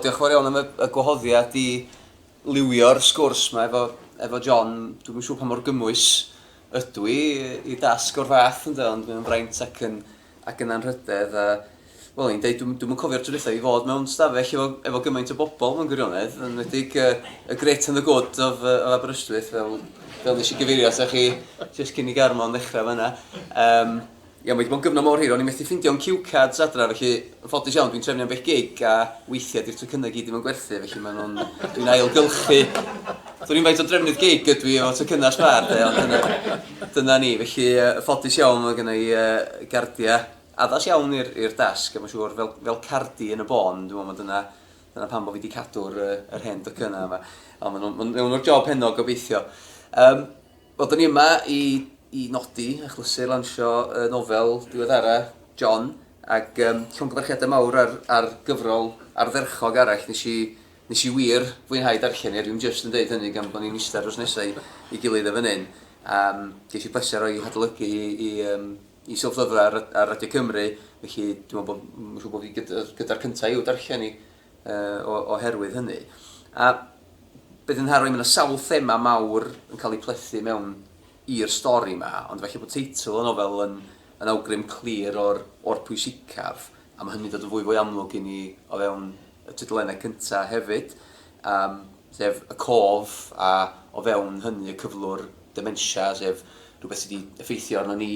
Diolch yn fawr iawn am y, y gwahoddiad i liwio'r sgwrs yma efo, efo John. Dwi'n yn siŵr pa mor gymwys ydw i i dasg o'r fath ynddo, ond mae'n fraint ac yn, ac yn anrhydedd. A, wel, i'n dweud, dwi'n dwi cofio'r tro i fod mewn stafell efo, efo gymaint o bobl mewn gwirionedd, yn wedi'ch uh, y Great and the Good of, uh, of Aberystwyth, fel, fel nes i gyfeirio atoch chi, jyst cyn i Garmon ddechrau fyna. Um, Ie, mae 'di bod yn gyfnod mor hir, o'n i methu ffindio'n cue cards adra, felly yn ffodus iawn dwi'n trefnu ambell gig a weithiau 'di'r tocynnau i gyd ddim yn gwerthu, felly maen nhw'n... dwi'n ailgylchu. Dwn i'm faint o drefnydd gig ydw i efo tocynnau sbâr de, ond dyna, dyna ni. Felly, yn ffodus iawn mae genna i gardiau addas iawn i'r dasg a mae'n siŵr fel, fel cardi yn y bôn, dwi'n meddwl mae dyna, dyna pam bod fi wedi cadw'r, yr hen docynnau yma. Ond maen nhw'n, maen nhw'n wneud y job heno gobeithio. Yym. Wel, 'da ni yma i i nodi achlysur lansio y nofel diweddara, John, ac um, llongyfarchiadau mawr ar, ar gyfrol ardderchog arall. Nes i, nes i wir fwynhau darllen i, a dwi'n just yn dweud hynny gan bod ni'n eistedd dros nesau i gilydd y fan hyn. Um, ges i pleser o'i hadolygu i, i, um, i Silff Lyfrau ar, ar Radio Cymru, felly dwi'n meddwl bod, siŵr bod fi gyda'r gyda cyntaf i'w darllen i. oherwydd hynny. A beth sy'n nharo i, mae yna sawl thema mawr yn cael eu plethu mewn i'r stori yma, ond felly bod teitl y nofel yn, yn awgrym clir o'r, o'r pwysicaf, a mae hynny'n dod yn fwy fwy amlwg i ni o fewn y tudalennau cyntaf hefyd, um, sef y cof a o fewn hynny y cyflwr dementia, sef rhywbeth sydd wedi effeithio arno ni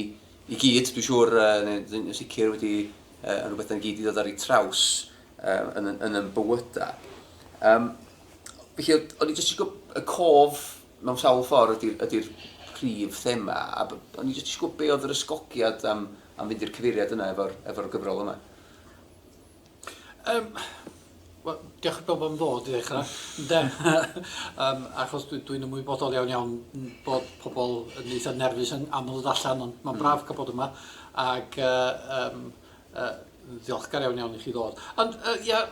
i gyd, dwi'n siŵr, uh, neu yn sicr wedi uh, yn rhywbeth yn gyd i ddod ar ei traws um, yn, yn, yn yn bywydau. Um, felly, o'n i jyst eisiau gwybod, y cof mewn sawl ffordd ydy'r ydy prif thema, a o'n i jyst eisiau gwybod be oedd yr ysgogiad am, am fynd i'r cyfeiriad yna efo'r efo gyfrol yma. Um, Wel, diolch i bawb am ddod i ddechrau. De, um, achos dwi'n dwi ymwybodol iawn iawn bod pobl yn eitha nerfus yn aml ddod allan, ond mae'n mm. braf cael bod yma. Ac uh, um, uh, Ddiolchgar iawn iawn i chi ddod. Ond, uh, ia,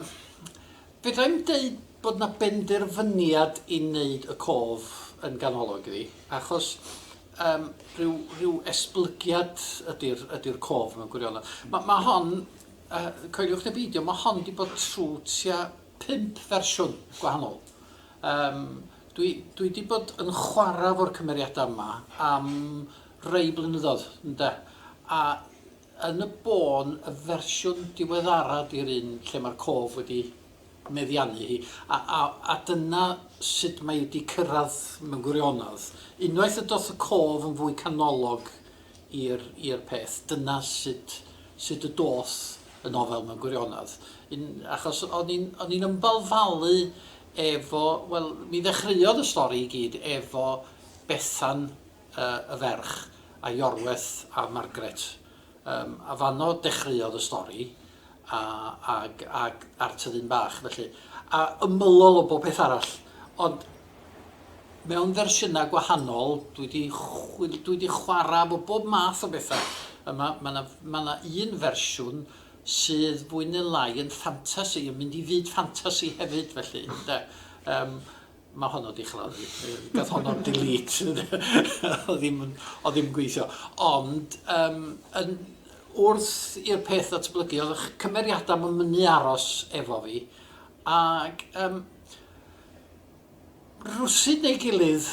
fedrai'm deud bod na benderfyniad i wneud y cof yn ganolog iddi, achos um, rhyw, rhyw esblygiad ydy'r ydy cof mewn gwirionedd. Mae ma hon, uh, coeliwch neu beidio, mae hon wedi bod trwy tua pimp fersiwn gwahanol. Um, dwi, dwi wedi bod yn chwarae fo'r cymeriadau yma am rei blynyddoedd, ynda. A Yn y bôn, y fersiwn diweddara 'di'r un lle mae'r cof wedi meddiannu hi, a, a, a dyna sut mae hi 'di cyrraedd mewn gwirionedd. Unwaith y doth y cof yn fwy canolog i'r, i'r peth, dyna sut, sut y doth y nofel mewn gwirionedd. Yn, achos o'n i'n, o'n i'n ymbalfalu efo, wel, mi ddechreuodd y stori i gyd efo Bethan, y ferch, a Iorwerth a Margaret. Yym a fanno dechreuodd y stori a ag ag a'r tyddyn bach felly. A ymylol o bob peth arall. Ond mewn fersiynau gwahanol, dwi wedi chwil, dwi wedi chwarae efo bob math o bethau. A mae yna ma ma yna un fersiwn sydd fwy neu lai yn ffantasi, yn mynd i fyd ffantasi hefyd felly, ynde. Yym. Mae honno wedi chladdu. Gath honno delete. o ddim, o ddim gweithio. Ond, um, yn, wrth i'r peth ddatblygu, oedd eich cymeriadau yn mynd i aros efo fi. Ac, um, rwsyd neu gilydd,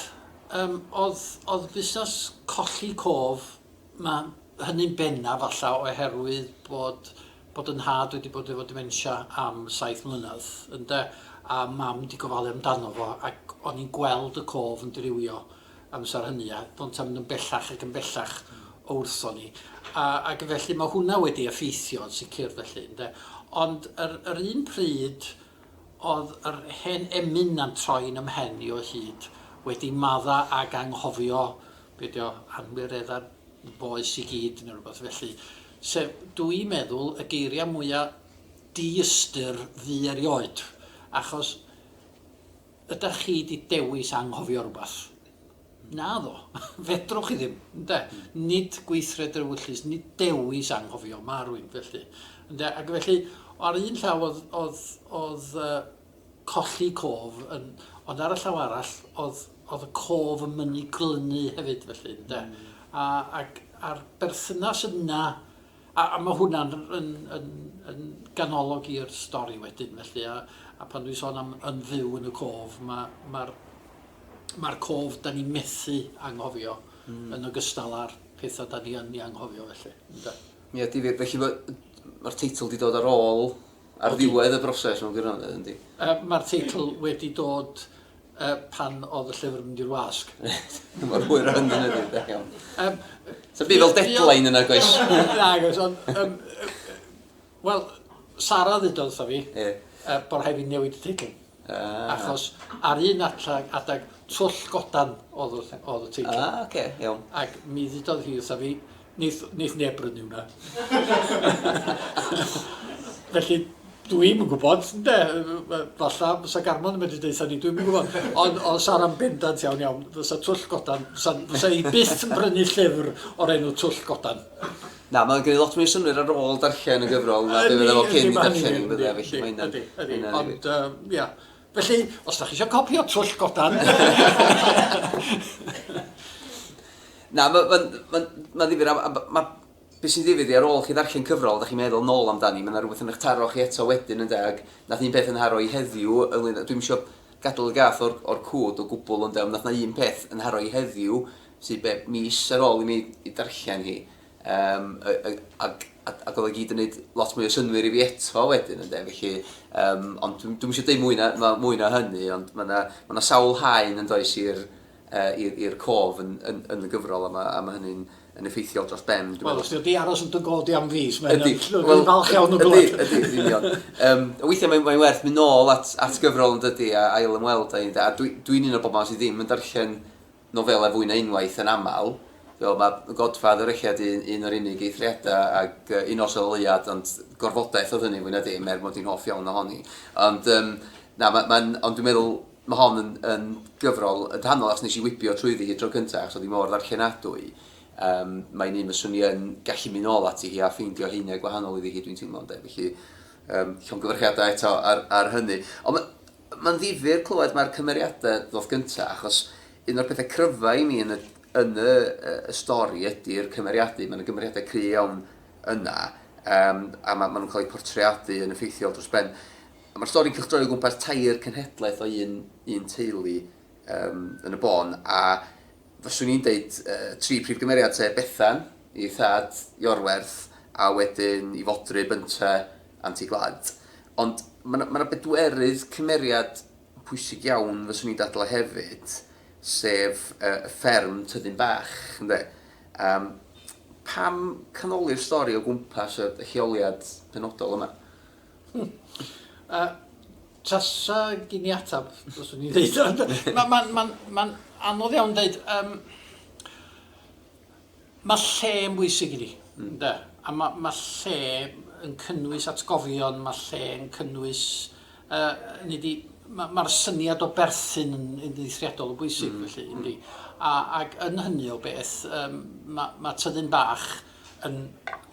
um, oedd, oedd busnes colli cof, mae hynny'n benna falla oherwydd bod bod yn nhad wedi bod efo dementia am saith mlynedd ynde a mam di gofalu amdano fo ac o'n i'n gweld y cof yn dirywio amser hynny a do'n ta'n mynd yn bellach ac yn bellach o wrthon ni a ac felly mae hwnna wedi effeithio yn sicr felly ynde ond yr, yr un pryd oedd yr hen emyn na'n troi'n ymhen i o hyd wedi madda ag anghofio be' 'di o, anwiredda bois i gyd neu rywbeth felly, sef, dw i'n meddwl, y geiriau mwya' diystyr fu erioed, achos ydach chi 'di dewis anghofio rywbeth? Naddo, fedrwch chi ddim, ynde? Nid gweithred yr ewyllys, nid dewis anghofio, ma' rwyn, felly, ynde? Ac felly, ar un llaw o'dd o'dd o'dd yy colli cof yn... ond ar y llaw arall oedd oedd y cof yn mynnu glynu hefyd felly ynde? A ac a'r berthynas yna a a ma' hwnna'n yn yn yn ganolog i'r stori wedyn felly a a pan dwi'n sôn am yn fyw yn y cof ma' ma'r ma'r cof 'dan ni'n methu anghofio... Hmm. ...yn ogystal â'r petha 'dan ni yn 'u anghofio felly ynde? Ia difir felly ma' yy ma'r teitl 'di dod ar ôl Ar ddiwedd y broses mewn gwirionedd, yndi. Mae'r teitl wedi dod pan oedd y llyfr yn mynd i'r wasg. Reit, mor hwyr â hynny na dim, da iawn. Sa'm byd fel deadline yna, goes. Nag oes, ond... Wel, Sara ddudodd wrtha fi bod rhaid fi newid y teitl. Achos ar un adag adag twll godan o'dd y o'dd y teitl. Ah oce iawn. Ac mi ddudodd hi wrtha fi neith neith neb brynu hwnna. Felly dwi'm yn gwbod ynde falla bysa Garmon yn medru deutha ni dwi'm yn gwbod ond o Sara'n bendant iawn iawn fysa twll godan fysa fysa i byth yn brynu llyfr o'r enw twll godan. Na, mae'n gwneud lot mwy o synnwyr ar ôl darllen y gyfrol na be fydda fo cyn i darllen i, fydda, felly mae hynna'n... Ydy, ydy, ydy, ond, ia. Felly, os da chi eisiau copi o Twll Godan... Na, mae'n ma, ma, ma ddifir, a, a ma, beth sy'n ddifir di, ar ôl chi ddarllen cyfrol, da chi'n meddwl nôl amdani, mae yna rhywbeth yn eich taro chi eto wedyn, ynddo, ac nath un peth yn haro i heddiw, ynglyn, dwi'n eisiau gadael y gath o'r, or cwd o gwbl, ynddo, ond nath na un peth yn haro i heddiw, sydd be, mis ar ôl i mi i darllen hi, um, ac, ac, ac oedd o gyd yn gwneud lot mwy o synwyr i fi eto wedyn, ynddo, felly, um, ond dwi'n dwi eisiau dweud mwy na, ma, mwy na hynny, ond mae yna ma, na sawl haen yn does i'r uh, cof yn, yn, yn, y gyfrol, a mae, a mae hynny'n yn effeithiol dros ben. Wel, os wedi aros yn dy godi am fus, mae'n well, falch iawn o glwyd. Ydy, ydy, union. um, weithiau mae'n mae werth mynd nôl at, at gyfrol yn dydy a ail ymweld â un, a dwi'n dwi un o'r bobl sydd ddim yn darllen nofelau fwy na unwaith yn aml. Fel mae The Godfather ella 'di un un o'r unig eithriadau ac yy Un Nos ar y Leuad ond gorfodaeth oedd hynny fwy na dim er mod i'n hoff iawn ohoni. Ond yym na ma' ma'n ond dwi'n meddwl ma' hon yn yn gyfrol yn rhannol achos nes i wibio trwyddi hi tro cynta achos oedd hi mor ddarllenadwy yym mae'n un fyswn i yn gallu mynd nôl ati hi a ffeindio haenau gwahanol iddi hi dwi'n teimlo ynde felly yym llongyfarchiadau eto ar ar hynny. Ond ma' Mae'n ddifyr clywed mae'r cymeriadau ddoth gyntaf, achos un o'r pethau cryfau i mi yn y yn y y stori ydy'r cymeriadau. Mae 'na gymeriadau cry' iawn yna, yym, a ma' ma' nhw'n cael eu portreadu yn effeithiol dros ben. A ma'r stori'n cylchdroi o gwmpas tair cenhedlaeth o un un teulu yym yn y bôn, a Fyswn i'n deud y tri prif gymeriad sef Bethan, ei thad, Iorwerth, a wedyn ei fodryb Bynta, Anti Gwlad. Ond ma' 'na ma' 'na bedwerydd cymeriad pwysig iawn fyswn i'n dadlau hefyd, sef y y fferm Tyddyn Bach, ynde? Yym pam canoli'r stori o gwmpas y y lleoliad penodol yma? Tasa gen i ateb, fyswn i'n dweud. Mae'n anodd iawn dweud. Mae lle yn bwysig i ni. A mae lle yn cynnwys atgofion, mae lle yn cynnwys... hynny ydi, mae'r syniad o berthyn yn eithriadol o bwysig, felly, yndy. Ac yn hynny o beth, mae tyddyn bach yn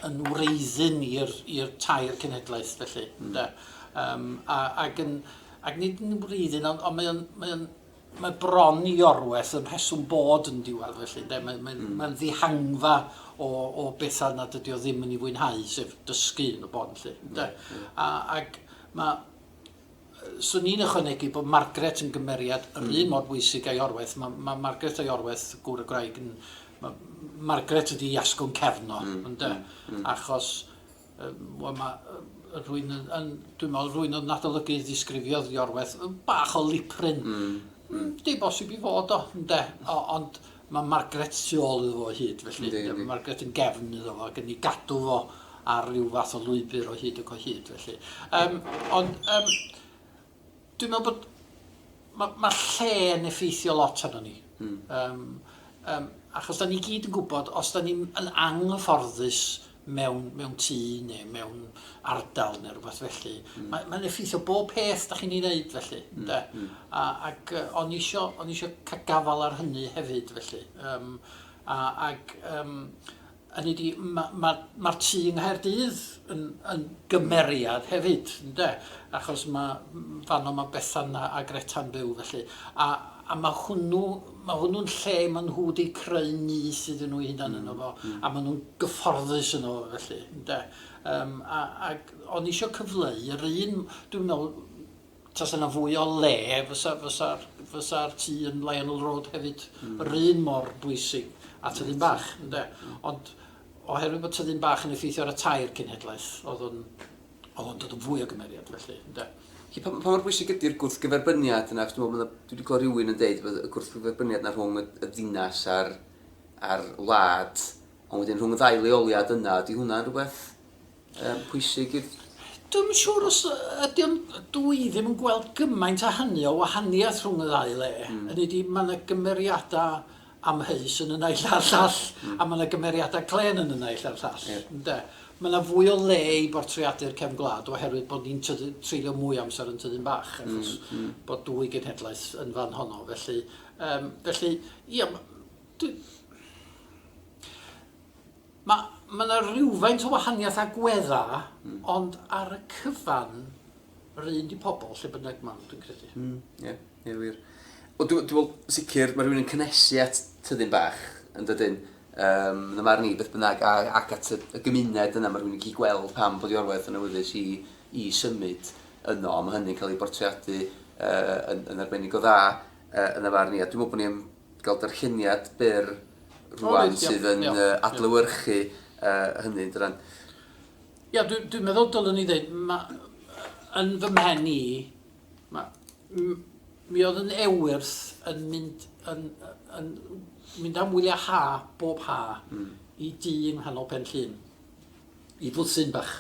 yn wreiddyn i'r i'r tair cenhedlaeth felly ynde? Yym a ag yn ac nid yn wreiddyn ond ond mae o'n mae o'n mae bron i orwell yn rheswm bod yn diwadd felly ynde? Mae mae'n mm. mae'n ddihangfa o o bethau nad ydi o ddim yn ei fwynhau sef dysgu yn y bôn felly ynde? Mm. mm. A ag mae 'swn i'n ychwanegu bod Margaret yn gymeriad yr un mor bwysig a'i orweth. Mae ma Margaret a'i orweth, gŵr y gwraig, yn... Ma, Margaret ydi i asgwrn cefn o, mm, ynde? Mm, mm. Achos, um, wel, mae uh, rwy'n... Yn, dwi'n meddwl, rwy'n oedd yn adolygu ddisgrifiodd i orweth, bach o liprin. Mm, mm. Di bosib i fod o, ynde? O, ond Mae Margaret tu ôl iddo fo o hyd, felly... Yndi, yndi. ...mae Margaret yn gefn iddo fo ac yn ei gadw fo ar ryw fath o lwybr o hyd ac o hyd, felly. Yym, ond, yym, dwi'n meddwl bod... Mae ma lle yn effeithio lot arno ni. Mm. Yym, yym, achos da ni gyd yn gwybod, os da ni'n yn anghyfforddus mewn, mewn tŷ neu mewn ardal neu rhywbeth felly. Mm. Mae, mae'n effeithio bob peth da chi'n ei wneud felly. Mm. De? Mm. A, ac uh, o'n isio, o'n isio cael gafal ar hynny hefyd felly. Um, a, ac um, hynny di, mae'r ma, ma, ma tŷ yng Nghaerdydd yn, yn gymeriad hefyd, de? achos mae fanno mae Bethan a, a Greta'n byw felly. A, a mae hwnnw Mae hwnnw'n lle ma' nhw 'di creu nyth iddyn nhw eu hunan yno fo, a ma' nhw'n gyfforddus yno fo felly, ynde? Yym a ag o'n i isio cyfleu yr un... Dwi'n meddwl tasa 'na fwy o le fysa fysa'r fysa'r tŷ yn Lionel Road hefyd yr un mor bwysig a Tyddyn Bach, ynde? Ond oherwydd bod Tyddyn Bach yn effeithio ar y tair cenhedlaeth, o'dd o'n o'dd o'n dod yn fwy o gymeriad felly, ynde? Felly, pa, pa mor bwysig ydy'r gwrthgyferbyniad yna? Achos dwi'n meddwl, dwi wedi clywed rhywun yn dweud bod y gwrthgyferbyniad yna rhwng y, y ddinas a'r, a'r wlad, ond wedyn rhwng y ddau leoliad yna, ydy hwnna'n rhywbeth um, pwysig i'r Dwi'n yn siŵr os ydy o'n... Dw i ddim yn gweld gymaint a hynny o wahaniaeth rhwng y ddau le. Mm. Yn ydy, mae yna gymeriadau amheus yn y naill a'r llall, a mae 'na gymeriadau clên yn y naill a'r llall, ynde. Mae 'na fwy o le i bortreadu'r cefn gwlad oherwydd bod ni'n treulio mwy o amser yn Tyddyn Bach, achos bod dwy genhedlaeth yn fan honno, felly, yym, felly, ia, dwi... Mae mae 'na rywfaint o wahaniaeth agweddau ond ar y cyfan yr un 'di pobl lle bynnag ma' nhw dwi'n credu. Mm ie ie wir. Wel dwi dwi me'wl sicr ma' rhywun yn cynhesu at tyddyn bach yndydyn? Yym yn y marn i beth bynnag a ac at y y gymuned yna ma' rhywun yn gallu gweld pam bod 'i orwaith yn awyddus i i symud yno a ma' hynny'n cael ei bortreadu yy yn yn arbennig o dda yy yn y farn i a dwi me'wl bo' ni yn gael darlleniad byr rwan sydd yn adlewyrchu hynny, yn dyden? Ia, dwi'n meddwl dylwn i ddeud, yn fy mhen i, mi oedd yn ewyrth yn mynd yn mynd am wyliau ha bob ha i dŷ yng nghanol Pen-llŷn. i fwthyn bach,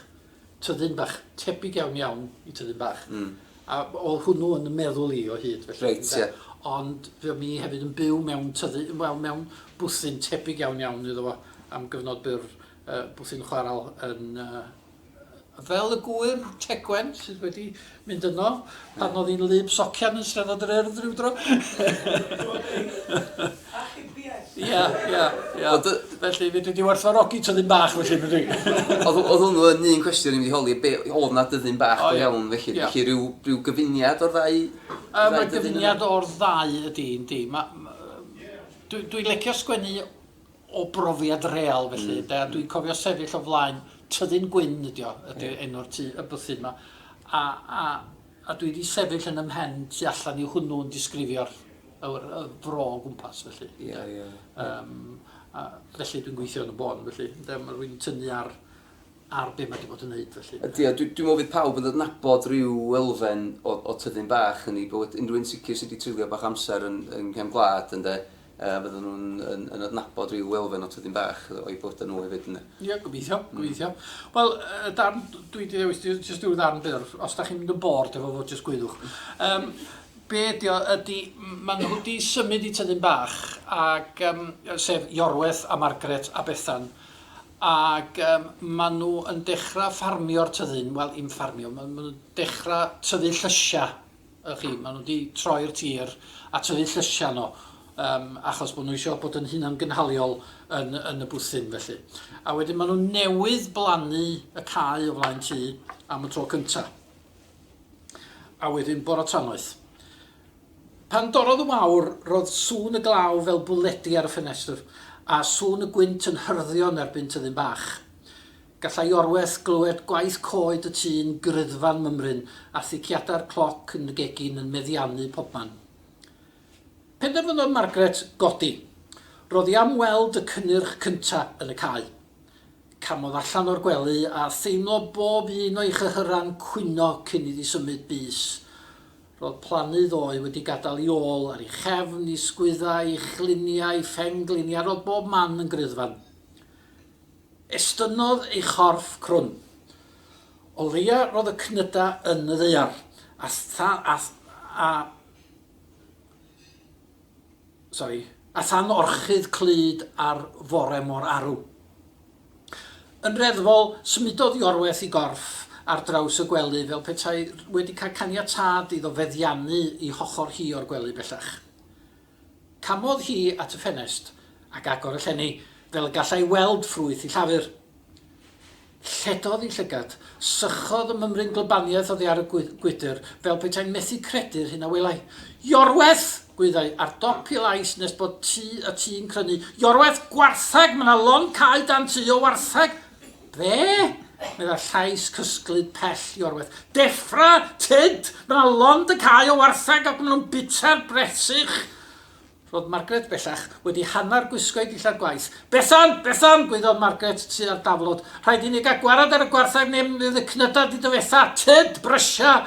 tyddyn bach, tebyg iawn iawn i tyddyn bach. Mm. A oedd hwnnw yn y meddwl i o hyd felly. Reit, ie. Ond fe o'n i hefyd yn byw mewn tyddu, wel, mewn bwthyn tebyg iawn iawn iddo fo am gyfnod byr, uh, bwthyn chwaral yn uh, fel y gŵyr tegwen sydd wedi mynd yno pan oedd hi'n lub socian yn Steddfod yr Urdd rhyw dro. Achubiaeth. Ia, ia, ia. Ond, yy, Felly, fedri di werthfawrogi tyddyn bach felly, fedri? Oedd oedd hwnnw yn un cwestiwn i mi wedi holi, be, oedd na dyddyn bach O, go ia. iawn felly? Ia. Felly rhyw, rhyw gyfuniad o'r ddau... Yy, ddau mae dyddyn yna? gyfuniad o'r ddau ydi, yndi. Ma- m- yy, dwi, dwi'n lecio sgwennu o brofiad real felly ynde a dwi'n cofio sefyll o flaen Tyddyn Gwyn ydi o ydi enw'r tŷ y bwthyn 'ma a a a dwi 'di sefyll yn 'y mhen tu allan i hwnnw yn disgrifio'r yr y fro o gwmpas felly ynde. Ie ie. Yym a felly dwi'n gweithio yn y bôn felly ynde ma' rwy'n tynnu ar ar be' ma' 'di bod yn neud felly ynde. Ydi a dwi dwi me'wl fydd pawb yn adnabod ryw elfen o o Tyddyn Bach yn 'i bywyd unrhyw un sicr sy' 'di treulio bach o amser yn yng nghefn gwlad ynde A fyddan nhw yn yn adnabod ryw elfen o Tydyn Bach o'u bywyda nhw hefyd ynde? Ie gobeithio gobeithio. Wel y darn dwi 'di ddewis di- jyst ryw ddarn byr os 'dach chi'n mynd yn bored efo fo jyst gwyddwch. Yym be' ydi o ydi m- ma' nhw 'di symud i Tydyn Bach ag yym yy sef Iorwerth a Margaret a Bethan ag yym ma' nhw yn dechra ffarmio'r tyddyn wel 'im ffarmio ma' ma' nhw'n dechra tyfu llysia. Ych chi, maen nhw 'di troi'r tir a tyfu llysiau nhw yym achos bod nhw isio bod yn hunangynhaliol yn yn y bwthyn felly. A wedyn maen nhw newydd blannu y cae o flaen tŷ am y tro cynta. A wedyn bore tanoeth. Pan dorrodd y wawr, roedd sŵn y glaw fel bwledi ar y ffenestr, a sŵn y gwynt yn hyrddio yn erbyn tyddyn bach. Gallai orweth glywed gwaith coed y tŷ'n gryddfa'n mymryn a thiciadau'r cloc yn y gegin yn meddiannu pobman. Penderfynodd Margaret godi. Ro'dd hi am weld y cynnyrch cynta' yn y cae. Camodd allan o'r gwely a theimlo bob un o'i chyhyran cwyno cyn iddi symud bys. Ro'dd plannu ddoe wedi gadal 'i ôl, ar 'i chefn, 'i sgwydda, 'i chliniau, 'i phen-gliniau, ro'dd bob man yn gryddfan. Estynnodd ei chorff crwn. O leia roedd y cnyda yn y ddaear, a than a a sori, a than orchudd clud ar fore mor arw. Yn reddfol, symudodd Iorwerth ei gorff ar draws y gwely fel petai wedi cael caniatâd iddo feddiannu i hochr hi o'r gwely bellach. Camodd hi at y ffenest ac agor y llenni fel y gallai weld ffrwyth i Llafur. Lledodd ei llygad. Sychodd y mymryn glybaniaeth oddi ar y gwydr, fel petai'n methu credu'r hyn a welai. Iorwerth! gwyddai, ar dop ei lais nes bod tu y tŷ'n crynu. Iorwerth! Gwartheg! Mae 'na lond cau dan tŷ o wartheg! Be? meddai llais cysglyd pell Iorwerth. Deffra, Tyd! Mae lond y cae o wartheg ac maen nhw'n bita'r bresych! Roedd Margaret bellach wedi hanner gwisgo'i dillad gwaith. Bethan! Bethan! gwaeddodd Margaret tua'r daflod. Rhaid i ni gael gwared ar y gwartheg neu mi fydd y cnydau wedi difetha! Tyd! Brysia!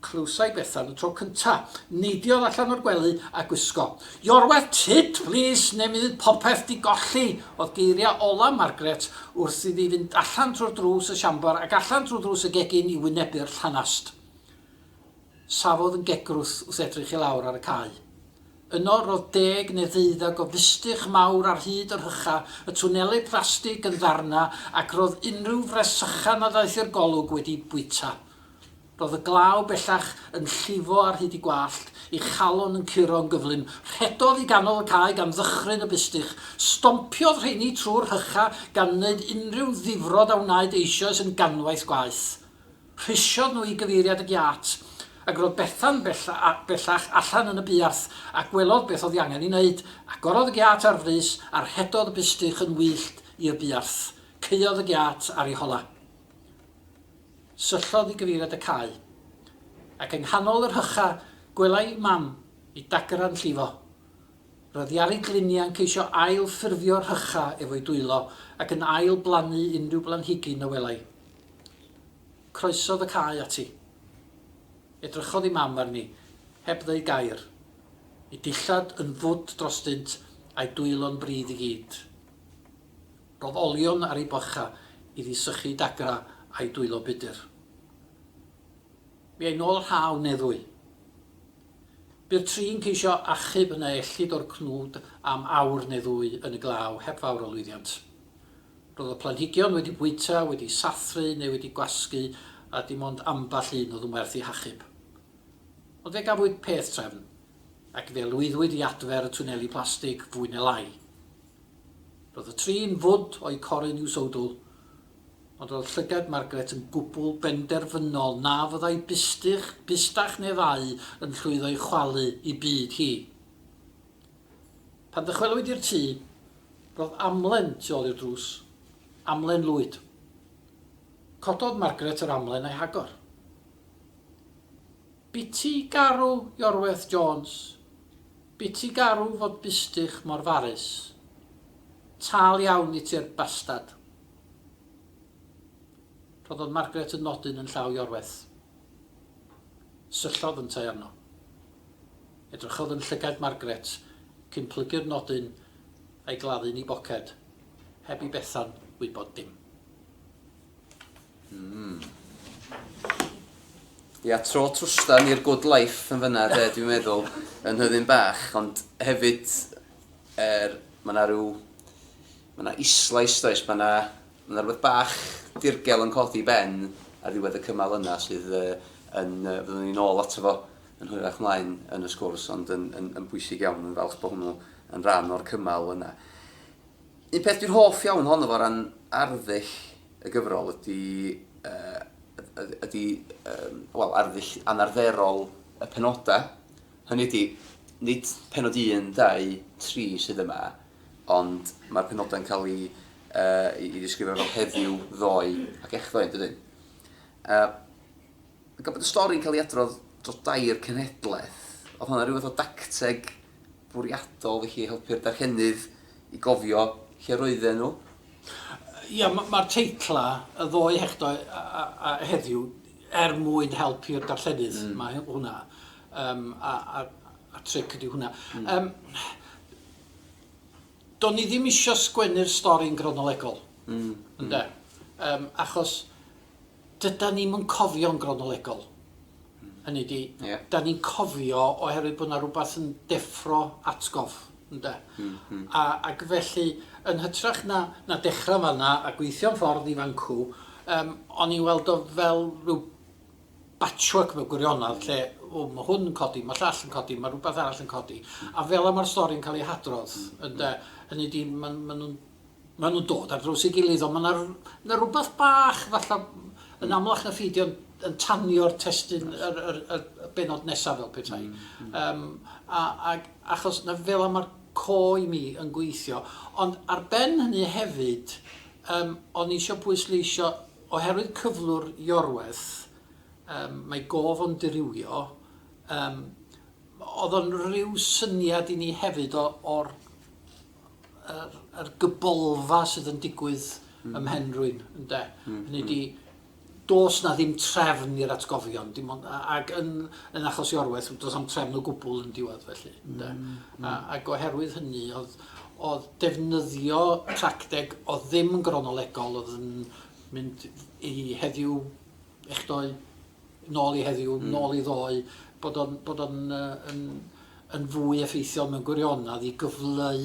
Clywsai Bethan y tro cynta. Neidiodd allan o'r gwely a gwisgo. Your wet tit, plîs, neu mi fydd popeth 'di golli! oedd geiriau ola' Margaret wrth iddi fynd allan trwy'r drws y siambr ac allan trwy ddrws y gegin i wynebu'r llanast. Safodd yn gegrwth wrth edrych i lawr ar y cae. Yno ro'dd deg neu ddeuddeg o fistych mawr ar hyd y rhycha', y twneli plastig yn ddarna', ac ro'dd unrhyw fresycha' na ddaeth i'r golwg wedi bwyta. Roedd y glaw bellach yn llifo ar hyd ei gwallt, ei chalon yn curo'n gyflym. Rhedodd i ganol y cae gan ddychryn y bustych. Stompiodd rheiny trwy'r rhychau gan wneud unrhyw ddifrod a wnaed eisoes yn ganwaith gwaeth. Rhysiodd nhw i gyfeiriad y giât, ac roedd Bethan bellach allan yn y buarth a gwelodd beth oedd ei angen ei wneud. Agorodd y giât ar frys a rhedodd y bustych yn wyllt i'r buarth. Caeodd y giât ar ei holau. Syllodd i gyfeiriad y cae, ac yng nghanol yr hycha gwelai Mam i dagran llifo. Roedd Iari Glinian ceisio ail ffurfio'r hycha efo'i dwylo ac yn ail blannu unrhyw blanhigyn y welai. Croesodd y cae ati. Edrychodd i Mam arni, heb ddeu gair. Ei dillad yn fwd drostynt, a'i dwylo'n brudd i gyd. Roedd olion ar ei bocha iddi sychu dagra a'i dwylo budr. Mi ai nôl rhaw neddwy. Bu'r tri'n ceisio achub yna ellid o'r cnwd am awr neu ddwy yn y glaw heb fawr o lwyddiant. Roedd y planhigion wedi bwyta, wedi sathru neu wedi gwasgu a dim ond amball un oedd yn werth ei hachub. Ond fe gafwyd peth trefn, ac fe lwyddwyd i adfer y twneli plastig fwy ne lai. Roedd y trin fwd o'u corun i'w sowdl, ond roedd llygad Margaret yn gwbl benderfynol na fyddai bystych, bystach neu ddau yn llwyddo i chwalu i byd hi. Pan ddychwelwyd i'r tŷ, roedd amlen tu ôl i'r drws, amlen lwyd. Cododd Margaret yr amlen a'i hagor. Biti garw Iorwerth Jones, biti garw fod bustych mor farus. Tal iawn i ti'r bastad. Rhoddodd Margaret y nodyn yn llaw Iorwerth. Syllodd yntau arno. Edrychodd yn llygaid Margaret cyn plygu'r nodyn a'i gladdu'n 'i boced, heb i Bethan wybod dim. Ia, tro trwstan i'r good life yn fyna de, dwi'n meddwl, yn hyddyn bach, ond hefyd, er, mae yna rhyw, mae yna islais does, mae yna, mae yna rhywbeth bach dirgel yn codi ben ar ddiwedd y cymal yna sydd uh, yn, uh, fyddwn ni'n ôl ato fo yn hwyrach mlaen yn y sgwrs, ond yn, yn, yn bwysig iawn, yn falch bod hwnnw yn rhan o'r cymal yna. Un peth dwi'n hoff iawn ohono fo ran arddull y gyfrol ydy yy ydy yym wel arddull anarferol y penodau, hynny ydy, nid pennod un, dau, tri sydd yma, ond mae'r penodau'n cael eu yy i ddisgrifio fel heddiw, ddoe ac echddoe yn dydyn? Yy. Gan bod y stori'n cael ei adrodd dros dair cenhedlaeth, oedd honna rhyw fath o dacteg bwriadol felly i helpu'r darllenydd i gofio lle roedden nhw? Ia, mae'r teitlau, y ddou hechdau a heddiw, er mwyn helpu'r darllenydd, mae hwnna, yym, a'r tric ydy hwnna. Yym, do'n i ddim isio sgwennu'r stori'n gronolegol, ynde, yym, achos Dydan ni'm yn cofio'n gronolegol. Hynny ydi... Ie. ...'dan ni'n cofio oherwydd bod 'na rwbath yn deffro atgof, ynde? Hmm, hmm. A ac felly, yn hytrach na na dechra fan 'na a gweithio'n ffordd i fan 'cw, yym o'n i'n weld o fel rhyw batchwork mewn gwirionedd lle, o, ma' hwn yn codi, ma' llall yn codi, ma' rwbath arall yn codi, a fel 'a ma'r stori'n ca'l ei hadrodd, ynde? Hynny ydi, ma' ma' nw'n Maen nhw'n dod ar draws ei gilydd ond mae 'na r- mae 'na rywbeth bach fatha yn amlach na phi 'di o'n yn tanio'r testun yr yr y y bennod nesaf fel petai. Yym a ag achos 'na fel 'na ma'r côr i mi yn gweithio. Ond ar ben hynny hefyd yym o'n i isio pwysleisio oherwydd cyflwr Iorwerth yym mae gof o'n dirywio yym o'dd o'n ryw syniad i ni hefyd o o'r yr yr gybolfa sydd yn digwydd ym mhen rwyn ynde? Hynny ydi do's 'na ddim trefn i'r atgofion dim ond a- ag yn yn achos Iorwerth do's na'm trefn o gwbwl yn diwedd felly ynde? A ag oherwydd hynny o'dd o'dd defnyddio tracteg o'dd ddim yn gronolegol o'dd yn mynd i heddiw echdoe nôl i heddiw, nôl i ddoe, bod o'n, bod o'n uh, yn, yn fwy effeithiol mewn gwirionedd i gyfleu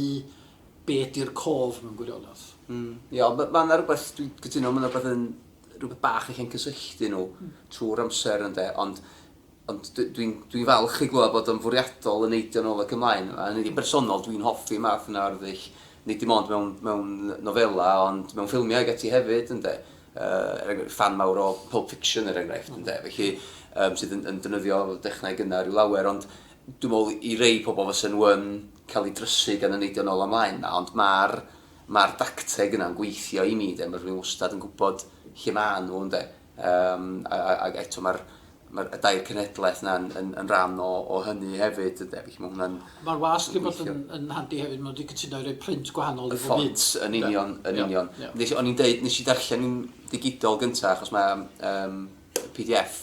be ydy'r cof mewn gwirionedd. Mm. Ie, ond mae yna rhywbeth, dwi'n cytuno, mae yna rhywbeth yn rhywbeth bach i chi'n cysylltu nhw mm. trwy'r amser ynddo, ond ond dwi'n dwi falch i glywed bod o'n fwriadol yn eidio nôl ac ymlaen. A yn ei bersonol, dwi'n hoffi math yna o'r ddull, nid dim ond mewn, mewn nofela, ond mewn ffilmiau ag ati hefyd, ynddo. er enghraifft, ffan mawr o Pulp Fiction, er enghraifft, ynde, felly, um, sydd yn, yn defnyddio dechnau yna rhyw lawer, ond dwi'n meddwl i rei pobl fysa nhw yn cael ei drysu gan y neidio nôl ymlaen yna, ond mae'r ma dacteg yna'n gweithio i mi, de, mae rhywun wastad yn gwybod lle maen nhw, ynde. Um, a, a, a eto mae'r Mae'r y dair cenhedlaeth yna yn, yn, yn rhan o, o hynny hefyd, ynde? Felly mae hwnna'n... Mae'r wasg yn bod yn, yn handi hefyd, maen nhw wedi cytuno i roi print gwahanol i bob un. Y ffont, yn union, yn union. Yeah, yeah. o'n i'n deud, nes i ddarllen yn digidol gyntaf, achos mae um, PDF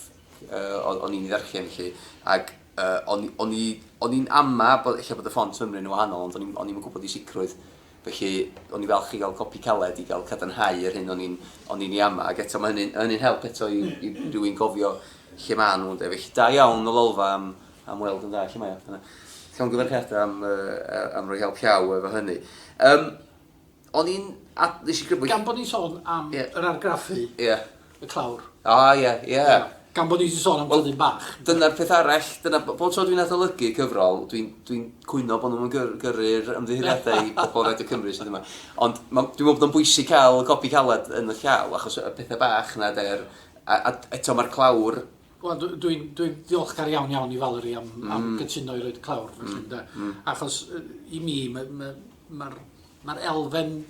uh, o'n i'n ei ddarllen, felly, ac uh, o'n i'n ama bod, eich bod y ffont yn ymwneud yn wahanol, ond o'n i'n gwybod i sicrwydd Felly, o'n i'n falch i gael copi caled i gael cadarnhau yr hyn o'n i'n o'n i'n ei ama'. Ac eto, mae hynny'n hynny'n help eto i i rywun gofio lle maen nhw ynde. Felly, da iawn y Lolfa am am weld yn dda lle mae o. Dyna. Llongyfarchiadau am yy am roi help llaw efo hynny. Yym, o'n i'n... A, nes i grybwyll... Gan bod ni'n sôn am... Ie. ...yr argraffu... Ie. y clawr. O, oh, ie, yeah, ie. Yeah. Yeah. Gan bod ni wedi sôn am well, tyddyn bach. Dyna'r peth arall, dyna, bob tro dwi'n adolygu cyfrol, dwi'n dwi, cwyno bod nhw'n gyrru'r gyrru ymddiheuriadau i bobl Radio Cymru sydd yma. Ond ma, dwi'n meddwl bod o'n bwysig cael y copi caled yn y llaw, achos y pethau bach yna, der, a, a eto mae'r clawr... Wel, dwi'n dwi, dwi ddiolchgar iawn iawn i Valerie am, mm. am gytuno i roed clawr, felly, mm. mm. achos i mi, mae'r ma, ma, ma elfen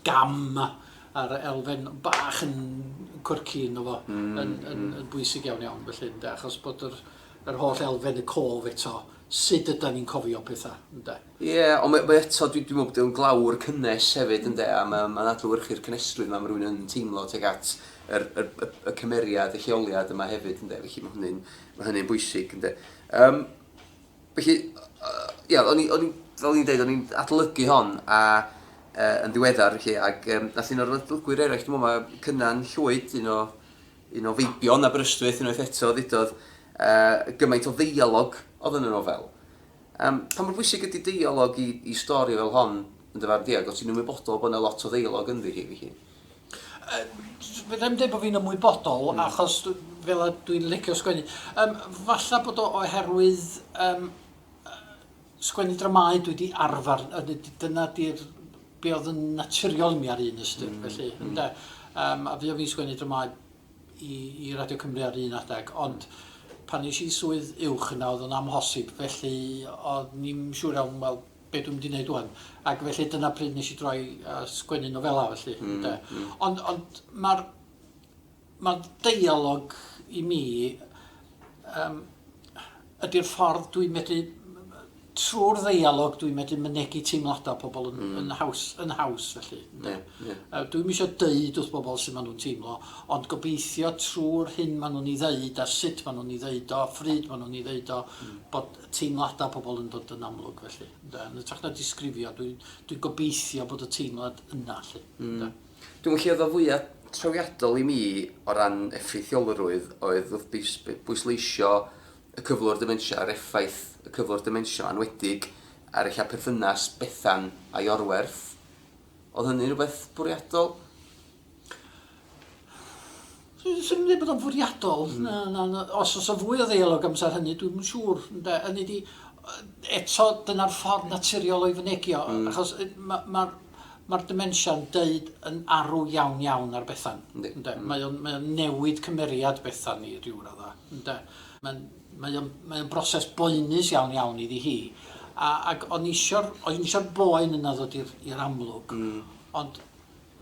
gam a'r elfen bach yn quirky ynddo fo yn bwysig iawn iawn felly ynde, achos bod yr yr holl elfen y cof eto, sud ydan ni'n cofio petha ynde? Ie, ond mae mae eto dwi dwi'n meddwl bod o'n glawr cynnes hefyd ynde a mae mae'n adlewyrchu'r cynestrwydd yma mae rhywun yn teimlo tuag at yr yr y y cymeriad, y lleoliad yma hefyd ynde felly mae hynny'n mae hynny'n bwysig ynde. Yym. Felly, ia, o'n i, o'n i, fel o'n i'n deud, o'n i'n adolygu hon a, e, yn ddiweddar, felly, ac um, nath un o'r adolygwyr eraill, dwi'n meddwl, mae Cynan Llwyd, un o, un o feibion Aberystwyth, unwaith eto, ddudodd, e, gymaint o ddeialog oedd yn y nofel. Um, pa mor bwysig ydy deialog i, i stori fel hon, yn dyfarn di, ac o ti'n ymwybodol bod yna lot o ddeialog ynddi hi, felly? Fedra i'm deud bod fi'n ymwybodol, achos fel a dwi'n licio sgwennu. Yym, falla bod o oherwydd yym sgwennu dramâu dwi wedi arfer, a d- d- dyna di'r... be oedd yn naturiol i mi ar un ystyr, felly, ynde. Yym, a fuon fi'n sgwennu dramâu i i Radio Cymru ar un adeg, ond pan es i i swydd uwch yna oedd o'n amhosib, felly o'n i'm siŵr iawn, wel, be dwi'n mynd i wneud ŵan. Ac felly dyna pryd nes i droi a sgwennu nofela felly ynde. Ond ond ma'r ma'r deialog i mi yym ydi'r ffordd dwi'n medru trwy'r ddeialog dwi'n medru mynegi teimlada pobl yn yn haws yn haws felly ynde. Yy dwi'm isio deud wrth bobl su' ma' nhw'n teimlo ond gobeithio trwy'r hyn ma' nhw'n 'i ddeud a sut ma' nhw'n 'i ddeud o a phryd ma' nhw'n 'i ddeud o bod teimladau pobl yn dod yn amlwg felly, ynde. Yn hytrach na disgrifio, dwi'n dwi'n gobeithio bod y teimlad yna 'lly, ynde. Mm. Dwi'n meddwl lle oedd o fwya' trawiadol i mi o ran effeithiolrwydd oedd wrth bwys- bwysleisio y cyflwr dementia a'r effaith y cyflwr dementia 'ma enwedig ar ella perthynas Bethan a'i orwerth. Oedd hynny'n rywbeth bwriadol? Dwi'n meddwl bod o'n fwriadol, hmm. na, na, na, os oes o fwy o ddeialog amser hynny, dwi'n yn siŵr. Ynde? Hynny di, eto, dyna'r ffordd naturiol o'i fynegio, mm. achos mae'r ma, ma demensia'n deud yn arw iawn iawn ar Bethan. Ynde? Ynde? Mm. Mae o'n mae o newid cymeriad Bethan ni rhyw radda. Ynde? Mae'n mae o'n, mae o'n broses boenus iawn iawn iddi hi. A, ac o'n isio'r, o'n isio'r boen yna ddod i'r amlwg. Mm. Ond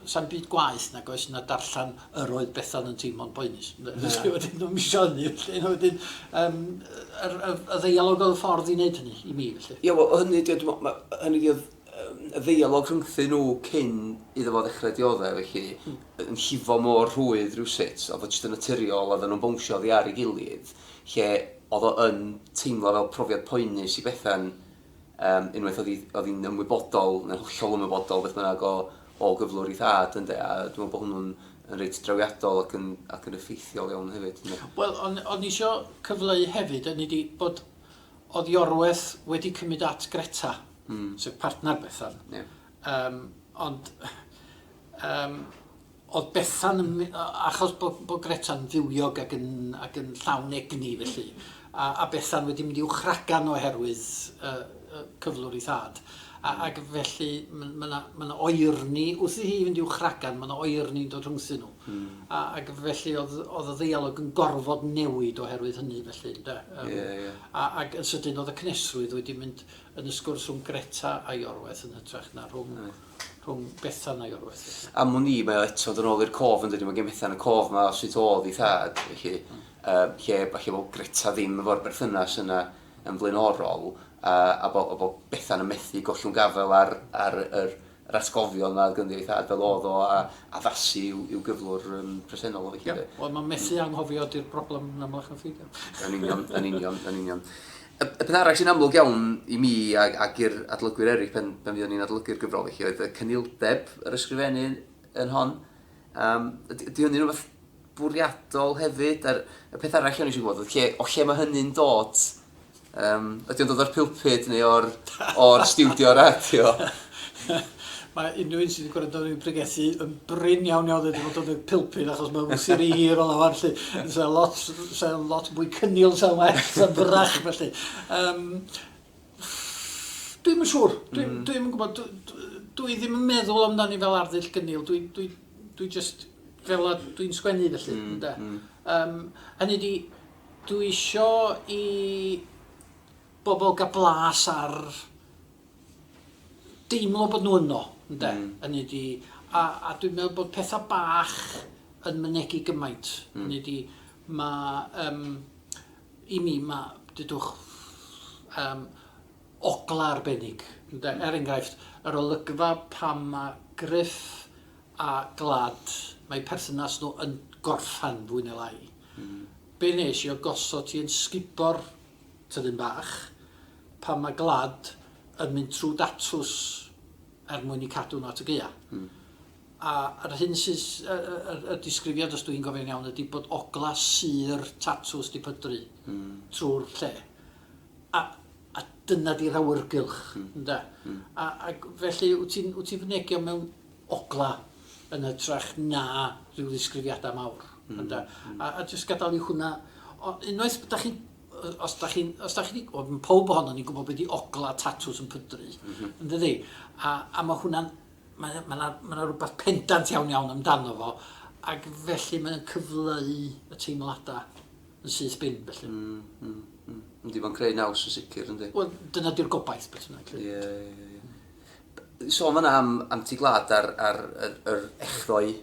'Sa'm byd gwaeth nag oes na darllen yr oedd Bethan yn teimlo'n boenus. Na. Felly wedyn dwi'm isio hynny felly a wedyn yym yr y y ddeialog oedd y ffordd i wneud hynny i mi felly. Ie wel hynny ydi o dwi me'wl ma' hynny ydi o'dd yym y ddeialog rhyngthyn nhw cyn iddo fo ddechre diodde' felly yn llifo mor rhwydd rywsut o'dd o jyst yn naturiol oddan nhw'n bownsio oddi ar ei gilydd lle o'dd o yn teimlo fel profiad poenus i Bethan Um, unwaith oedd hi'n ymwybodol, neu'n hollol ymwybodol, beth bynnag o, o gyflwr i thad, ynddo, a dwi'n meddwl bod hwnnw'n yn reit drawiadol ac yn, ac yn effeithiol iawn hefyd. Wel, ond on i eisiau cyfleu hefyd, yn ni di bod oedd Iorweth wedi cymryd at Greta, mm. sef partner Bethan. Yeah. Um, ond um, Oedd Bethan yn my-, achos bod bod Greta'n fywiog ac yn ac yn llawn egni felly, a a Bethan wedi mynd i'w chragan oherwydd y y cyflwr ei thad, a ac felly m- ma' 'na ma' 'na oerni wrth i hi fynd i'w chragan ma' 'na oerni'n dod rhwngthyn nhw. Hmm. A ac felly oedd oedd y ddeialog yn gorfod newid oherwydd hynny felly ynde? Yym. Ie ie. A ac yn sydyn oedd y cynesrwydd wedi mynd yn y sgwrs rhwng Greta a Iorwerth yn hytrach na rhwng... Reit. rhwng Bethan a'i olwg felly? Am wn i, mae o eto dod yn ôl i'r cof yndydi, mae gen Bethan y cof 'ma o sut o'dd 'i thad, felly yym lle falle bod Greta ddim efo'r berthynas yna yn flaenorol, a a bo' a bo' Bethan yn methu gollwng gafael ar ar yr yr atgofion 'ma o'dd ganddi o'i thad fel o'dd o a addasu i'w i'w gyflwr yym presennol o felly 'de? Ie, wel ma' methu anghofio 'di'r broblem yn amlach na pheidio. Yn union, yn union, yn union. Y peth arall sy'n amlwg iawn i mi ac i'r adolygwyr eraill pan fuon ni'n adolygu'r gyfrol felly oedd y cynildeb yr ysgrifennu yn hon. Yym ydy hynny'n rhywbeth bwriadol hefyd? A'r y peth arall o'n i eisiau gwybod oedd lle o lle mae hynny'n dod? Yym ydy o'n dod o'r pulpud neu o'r o'r stiwdio radio? Mae unrhyw un sydd wedi gwrando arna fi'n pregethu yn brin iawn iawn wedi bod yn y pilpid achos mae'n wsir i hir o lawer lly. Sa'n lot, sa lot mwy cynnil, sa'n well, sa'n fyrrach felly. Um, dwi'n yn siŵr, dwi'n mm. dwi yn gwybod, dwi, dwi ddim yn meddwl amdani fel arddull gynnil, dwi, dwi, dwi just fel a dwi'n sgwennu felly. Mm, mm. Um, hynny di, dwi isio i bobl gael blas ar deimlo bod nhw yno, ynde? Mm. Hynny ydi, a, a dwi'n meddwl bod pethau bach yn mynegu gymaint. Mm. Hynny ydi, mae, um, i mi, mae, dydwch, um, ogla arbennig, ynde? Mm. Er enghraifft, yr olygfa pan mae Griff a Glad, mae perthynas nhw yn gorffan fwy neu lai. Mm. Be nes i o gosod ti yn sgubo'r tyddyn bach, pan mae gwlad yn mynd trwy datws er mwyn eu cadw nhw at y gaeau. Mm. A yr hyn sy'n, y, y, y disgrifiad, os dwi'n gofio'n iawn, ydy bod ogla syr tatws di pydru mm. trwy'r lle. A, a dyna di'r awyrgylch, mm. ynda. Mm. A, a felly, wyt ti'n fynegio mewn ogla yn ytrach na rhyw ddisgrifiada mawr ynde? A a jyst gadal i hwnna o- unwaith da chi yy os da chi'n os da chi 'di wel m- powb ohonon ni'n gwbod be' 'di ogla tatws yn pydru yndydi? A a ma' hwnna'n mae o ma' 'na ma' 'na rwbath pendant iawn iawn amdano fo ag felly mae o'n cyfleu y teimlada yn syth bin felly. Hmm hmm hmm. Yndi ma'n creu naws yn sicir yndi? Wel dyna 'di'r gobaith beth bynnag 'lly. Ie ie ie. Sôn fan'na am am ti glad a'r a'r yr yr echddoe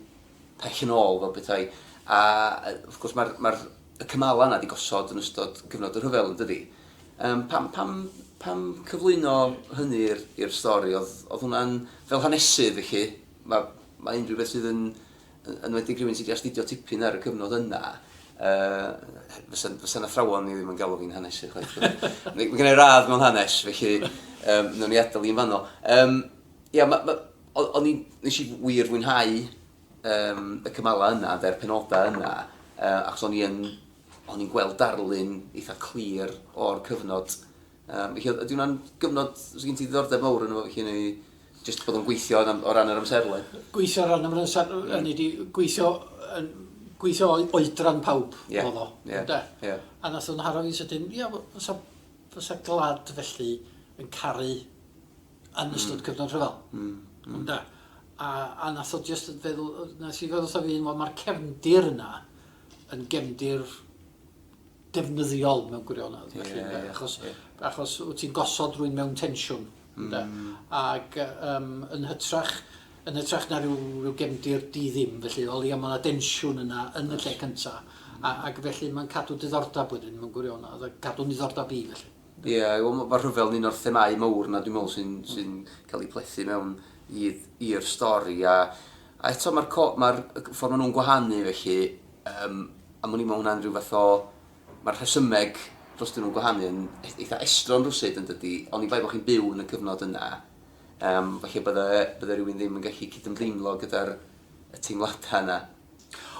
pell yn ôl fel petai, a yy wrth gwrs ma'r ma'r y cymala 'na 'di gosod yn ystod cyfnod y rhyfel yndydi? Yym pam pam pam cyflwyno hynny i'r i'r stori? O'dd o'dd hwnna'n fel hanesydd felly ma' ma' unrhyw beth sydd yn yn enwedig rhywun sydd wedi astudio tipyn ar y cyfnod yna, uh, fysa'n fysa athrawon ni ddim yn galw fi'n hanesydd chwaith. Mae gen i radd mewn hanes, felly um, nhw'n i adael i'n fanno. Um, ia, ma, ma, o'n i, nes i wir fwynhau um, y cymalau yna, dde'r penodau yna, uh, achos o'n i'n o'n i'n gweld darlun eitha clir o'r cyfnod Yym, felly oedd, ydy hwnna'n gyfnod, os gen ti ddiddordeb mawr yn efo felly neu jyst bod o'n gweithio o ran yr amserlen? Gweithio o ran yr amserlen, mm. hynny di, gweithio, yn, gweithio oedran pawb yeah. oedd o, yeah. ynde? Yeah. A nath o'n haro fi sydyn, ia, fysa, fysa glad felly yn caru yn ystod mm. cyfnod rhyfel, mm. mm. ynde? A, a nath o just feddwl, nes i feddwl wrtho fi, mae'r cefndir yna yn gefndir defnyddiol mewn gwirionedd felly ynde... Ie ie. ...achos achos wt ti'n gosod rhywun mewn tensiwn ynde... Mm. ...ag yym yn hytrach yn hytrach na ryw ryw gefndir di ddim felly o leia' ma' 'na densiwn yna yn y lle cynta a ag felly ma'n cadw diddordab wedyn mewn gwirionedd a cadw'n ddiddordab i felly. Ie wel ma' ma' rhyfel yn un o'r themâu mowr 'na dwi me'wl sy'n sy'n ca'l 'i plethu mewn i'r i'r stori a a eto ma'r co- ma'r y c- ffor ma' nw'n gwahanu felly Yym, am wn i ma' hwnna'n rhyw fath o... Ma'r rhesymeg drostyn nhw'n gwahanu yn e- eitha estron rywsut yn dydi? Oni bai bo' chi'n byw yn y cyfnod yna, yym, falle bydde bydde rywun ddim yn gallu cydymdeimlo gyda'r y teimlada yna.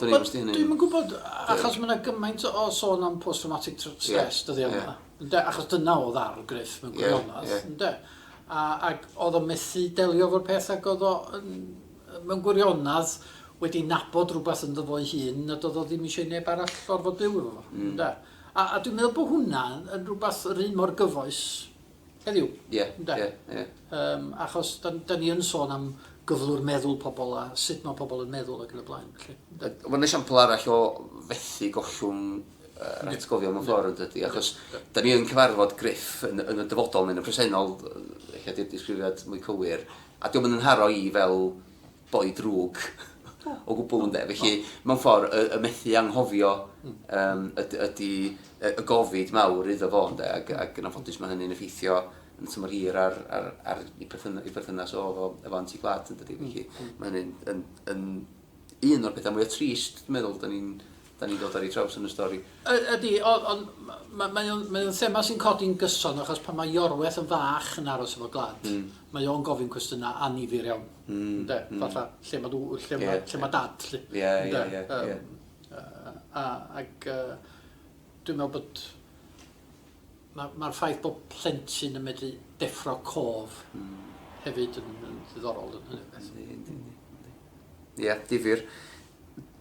Dwn i'm os 'di hynny'n... Wel, dwi'm yn gwbod, achos ma' 'na gymaint o sôn am post-traumatic tr- stress... Ie, ie. ...dyddia' 'ma, ynde? Achos dyna o'dd arw Gruff mewn gwirionedd... Ie, ie. ...ynde? A ag o'dd o methu delio efo'r peth ag o'dd o yn mewn gwirionedd, wedi nabod rhywbeth ynddo fo'i hun nad oedd o ddim eisiau i neb arall orfod byw efo fo, ynde? A, a dwi'n meddwl bod hwnna yn rhywbeth yr un mor gyfoes heddiw, yeah, ynde? Yeah, yeah. Um, achos da, da ni yn sôn am gyflwr meddwl pobl a sut mae pobl yn meddwl ac yn y blaen. Felly, ynde? Mae'n esiampl arall o fethu gollwng yr atgofion mewn ffordd yn dydy, achos da ni yn cyfarfod Griff yn, yn y dyfodol neu yn y presennol, eich ddisgrifiad mwy cywir, A dio'm yn 'nharo i fel boi drwg o gwbl ynde? Felly, mewn ffor', y y methu anghofio yym yd- ydi y y gofid mawr iddo fo ynde? Ag ag yn anffodus ma' hynny'n effeithio yn y tymor hir ar ar ar 'i perthyn- 'i perthynas o efo efo Anti-Gwlad yndydi? Felly, ma' hynny'n yn yn Un o'r pethau mwya trist dwi'n meddwl 'dan ni'n 'dan ni'n dod ar ei traws yn y stori. Y- ydi, o- ond ma- mae o'n mae o'n thema sy'n codi'n gyson achos pan mae Iorweth yn fach yn aros efo Glad mae o'n gofyn cwestiynau annifyr iawn, ynde, fatha lle ma' dw- lle ma' lle ma' dad 'lly, ynde, yym yy a ag yy dwi'n meddwl bod Mae'r ffaith bod plentyn yn medru deffro cof hefyd yn ddiddorol yn hynny o beth. Yndi, yndi, yndi. Ie, difyr.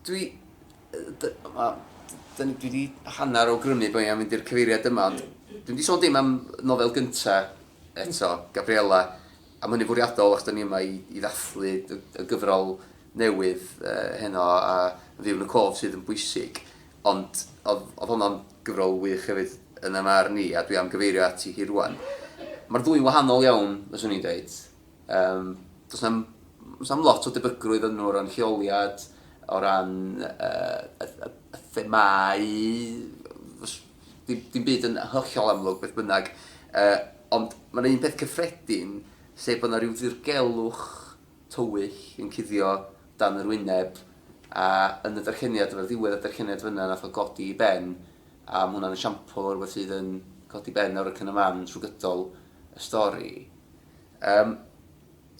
Dwi... Dwi wedi hanner o grymu bod ni'n mynd i'r cyfeiriad yma, ond dwi wedi sôn dim am nofel gynta eto, Gabriella, am hynny fwriadol, ac da ni yma i, i ddathlu y, y gyfrol newydd uh, heno a fyw yn y cof sydd yn bwysig. Ond oedd, oedd honno'n gyfrol wych hefyd yn 'y marn i, a dwi am gyfeirio ati hi rŵan. Mae'r ddwy'n wahanol iawn, fyswn i'n dweud. Yym, does 'na'm, does 'na'm lot o debygrwydd ynddo o ran lleoliad, o ran yy y y y themâu, fys- dim dim byd yn hollol amlwg, beth bynnag. Yy, ond mae 'na un peth cyffredin, sef bod 'na ryw ddirgelwch tywyll yn cuddio dan yr wyneb a yn y darlleniad efo ddiwedd y darlleniad fynna nath o godi i ben a ma' hwnna'n esiampl o rwbeth sydd yn codi ben ar wrycyn y man trw gydol y stori yym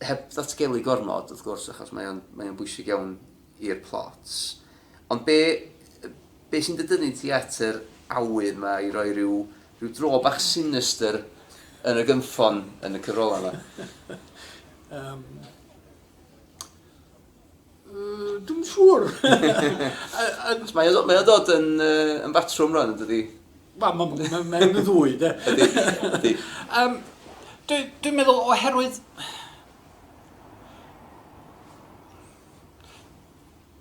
heb ddatgelu gormod wrth gwrs achos mae o'n mae o'n bwysig iawn i'r plot. Ond be, be sy'n dy dynnu ti at yr awydd 'ma i roi rhyw, rhyw dro bach sinister yn y gynffon yn y cyfrolau 'ma? Yym, yy, dwi'm yn siŵr! Achos mae o, mae o'n dod yn, yy, yn batrwm rwan, yn dydi? Wel, mae'n ma, ma, ma yn y ddwy, de. Ydy, ydy. Um, Dwi'n dwi meddwl oherwydd...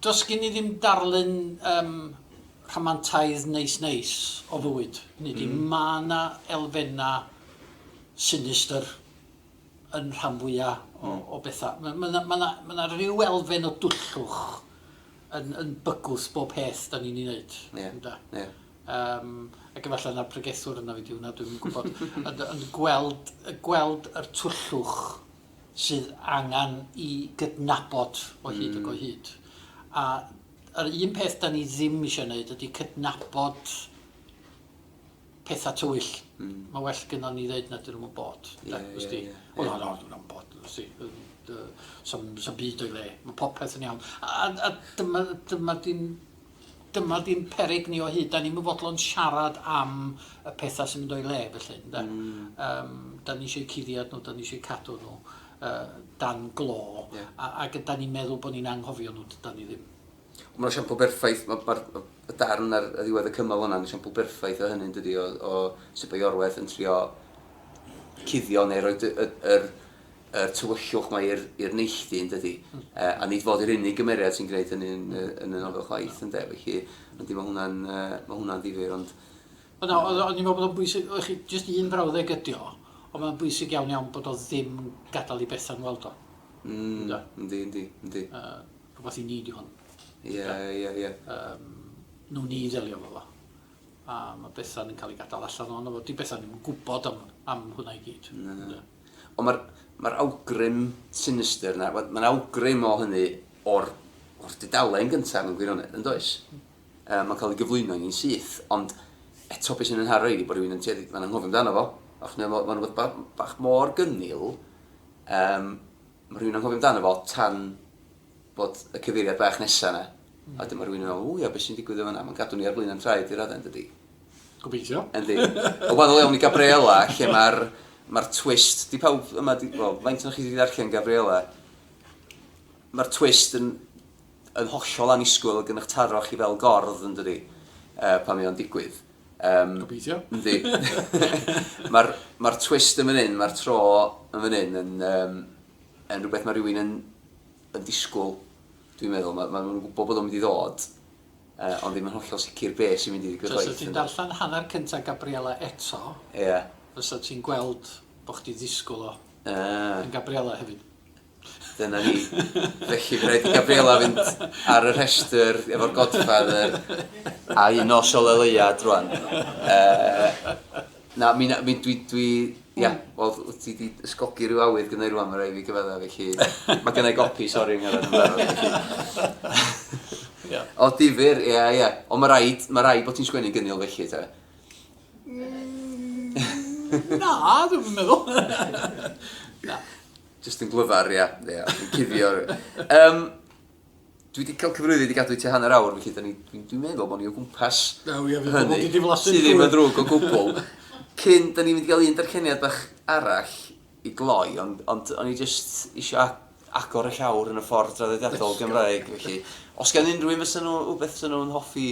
Does gen i ddim darlun yym rhamantaidd neis neis o fywyd, hynny ydi... Mm. ...ma' 'na elfenna' sinistr yn rhan fwya o... Mm. ...o betha. Ma' ma' 'na ma' 'na ma' 'na ryw elfen o dwllwch yn yn bygwth bob peth 'dan ni'n 'i neud. Ie. Ynde? Ie. Yym ac efallai na'r pregethwr yna fi 'di wnna dwi'm yn gwbod ond ond gweld yy gweld yr twllwch sydd angen i gydnabod o hyd ac o hyd. A yr un peth da ni ddim eisiau gwneud ydy cydnabod pethau tywyll. Mm. Mae well gyda ni ddeud na dyn nhw'n bod. Ie, ie, ie. O, na, na, dyn nhw'n bod. Sam byd o'i le. Mae popeth yn iawn. A, a, a dyma, dyma di'n dyma ddim peryg ni o hyd, da ni'm yn fodlon siarad am y pethau sy'n mynd o'i le felly, ynde? Mm. Um, da ni eisiau cuddiad nhw, da ni eisiau cadw nhw uh, dan glo, yeah. a, ac da ni'n meddwl bod ni'n anghofio nhw, da ni ddim. Mae'n esiampl berffaith, mae'r ma, ma, ma darn ar y ddiwedd y cymal hwnna'n esiampl berffaith o hynny'n dydi, o, o sut mae Iorwerth yn trio cuddio neu roi y, y, y, yr tywyllwch 'ma i'r i'r neilltu yndydi? Hmm. Yy a nid fod yr unig gymeriad sy'n gwneud hynny yn yy yn y nofel chwaith ynde felly yndi ma' hwnna'n yy ma' hwnna'n ddifyr ond Wel na o'dd o o'n i'n meddwl bod o'n bwysig o' chi jyst un frawddeg ydi o ond ma'n bwysig iawn iawn bod o ddim yn gadal i Bethan weld o. Mm. Ynde? Yndi yndi yndi. Yy rhwbath i ni di hwn. Ie ie ie. Yym nwn ni ddelio efo fo. A ma' Bethan yn ca'l ei gadal allan ohono fo 'di Bethan ddim yn gwbod am am hwnna i gyd. Na. Ynde? Ond mae'r, mae'r awgrym sinistr 'na, wel, mae'n awgrym o hynny o'r, o'r dudalen gyntaf mewn gwirionedd, yn does? Yy, mae'n cael ei gyflwyno i ni'n syth, ond eto beth sy'n yn haro i ydi bod rhywun yn tueddu, mae'n anghofio amdano fo, achos mae'n mae'n rhywbeth ba- bach mor gynnil, um, mae rhywun yn anghofio amdano fo tan bod y cyfeiriad bach nesa 'na, a wedyn ma' rhywun yn meddwl, o ia, be' sy'n digwydd yn fan'na? Ma'n gadw ni ar flaen 'yn traed i radde yndydi? Gobeithio. Yndi. Yn wahanol iawn i Gabriella, lle ma'r ma'r twist, 'di pawb yma 'di, wel, faint ohonoch chi sy' 'di darllen Gabriella? Ma'r twist yn yn hollol annisgwyl ag yn 'ych taro chi fel gordd yndydi? Yy pan mae o'n digwydd. Yym... Gobeithio. Yndi. Ma'r ma'r twist yn fan 'yn, ma'r tro yn fan 'yn yn yym yn rhywbeth mae rhywun yn, yn disgwyl, dwi'n meddwl. Mae, mae nhw'n gwybod bod o'n mynd i ddod, uh, ond ddim yn hollol sicr be sy'n mynd i ddigwydd chwaith. So, ti'n darllen hanner cyntaf Gabriella eto, yeah. fysa ti'n gweld bod chdi ddisgwyl o uh. yn Gabriella hefyd. Dyna ni. Felly, fe rhaid i Gabriella fynd ar y rhestr efo'r Godfather a un o Sol Eleuad rwan. Uh, Na, mi, mi, dwi, dwi, ia, yeah, hmm. wel, wyt ti wedi ysgogi rhyw awydd gyda'i rwan, mae rhaid fi gyfedda, felly, mae gyda'i gopi, sori, yng Nghyrraedd yn barod, felly. O, difyr, ia, ia. O, mae rhaid, mae rhaid bod ti'n sgwennu gynnil felly, ta? Mm, na, dwi'n meddwl. na. Just yn glyfar, ia, ia, yn cuddio. Um, Dwi wedi cael cyfrifyd i gadw i tua hanner awr, felly da ni, dwi'n dwi meddwl bod ni o gwmpas Na, ia, fydd pobl wedi diflasu Ti ddim yn ddrwg o gwbl. Cyn, da ni'n mynd i gael un darlleniad bach arall i gloi, ond, ond o'n i jyst eisiau agor y llawr yn y ffordd draddodiadol Gymraeg, felly. Os gan unrhyw un fysa nhw rhywbeth fysa nhw'n hoffi